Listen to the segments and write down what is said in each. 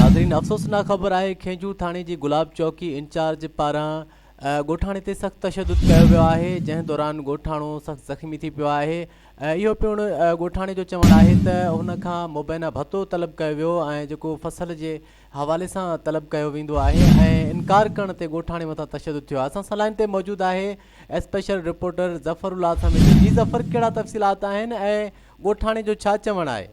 ناظرين افسوسناڪ خبر آهي کينجهور ٿاڻي جي گلاب چوڪي انچارج پاران ڳوٺاڻي تي سخت تشدد ڪيو ويو آهي جنهن دوران ڳوٺاڻو سخت زخمي ٿي پيو آهي اهو پڻ ڳوٺاڻي جو چوڻ آهي ته هن کان مبينا ڀتو طلب ڪيو ويو ۽ جيڪو فصل جي حوالي سان طلب ڪيو ويندو آهي ۽ انڪار ڪرڻ تي ڳوٺاڻي مٿان تشدد ٿيو آهي اسان سان لائين تي موجود آهي special reporter Zafarullah Sameeji جي ظفر ڪهڙا تفصيلات آهن ۽ ڳوٺاڻي جو ڇا چوڻ آهي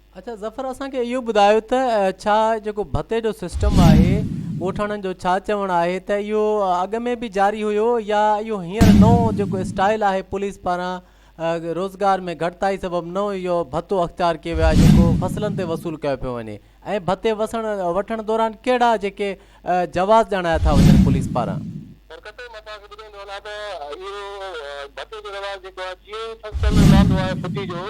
اڇا ظفر اسان کي اهو ٻڌايو ته ڇا جيڪو ڀتي جو سسٽم آهي ڳوٺاڻن جو ڇا چوڻ آهي ته اهو اڳ ۾ به جاري هيو يا اهو هينئر نئون جيڪو اسٽائيل آهي پوليس پاران روزگار ۾ گهٽتائي سبب نئون اهو ڀتو اختيار ڪيو ويو آهي جيڪو فصلن تي وصول ڪيو پيو وڃي ۽ ڀتي وسڻ وٺڻ دوران ڪهڙا جيڪي جواز ڄاڻايا ٿا وڃن پوليس پاران سرڪت مان توهان کي ٻڌائيندو هلان ته اهو ڀتي جو رواج جيڪو آهي جيئن ئي فصل لهندو آهي ڦٽي جو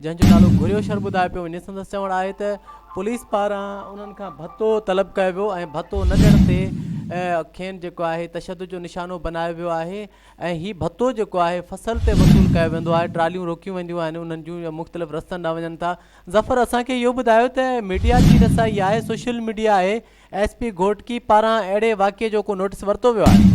جنهن جو نالو گهريو شر ٻڌايو پيو وڃي سندس چوڻ آهي ته پوليس پاران انهن کان ڀتو طلب ڪيو ويو ۽ ڀتو نه ڏيڻ تي کين جيڪو آهي تشدد جو نشانو بنايو ويو آهي ۽ هي ڀتو جيڪو آهي فصل تي وصول ڪيو ويندو آهي ٽراليون روڪيون وينديون آهن انهن جون مختلف رستن ڏانهن وڃن ٿا ظفر اسان کي اهو ٻڌايو ته ميڊيا جي رسائي آهي سوشل ميڊيا آهي ايس پي گهوٽڪي پاران اهڙي واقعي جو ڪو نوٽس ورتو ويو آهي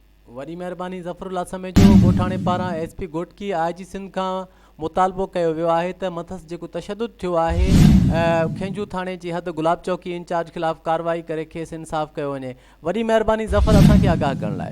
وڏي مهرباني ظفر الله سميجو ڳوٺاڻي پاران S P Ghotki I G Sindh کان مطالبو ڪيو ويو آهي ته مٿس جيڪو تشدد ٿيو آهي کينجهو ٿاڻي جي حد گلاب چوڪي انچارج خلاف ڪارروائي ڪري کيس انصاف ڪيو وڃي وڏي مهرباني ظفر اسان کي آگاهه ڪرڻ لاء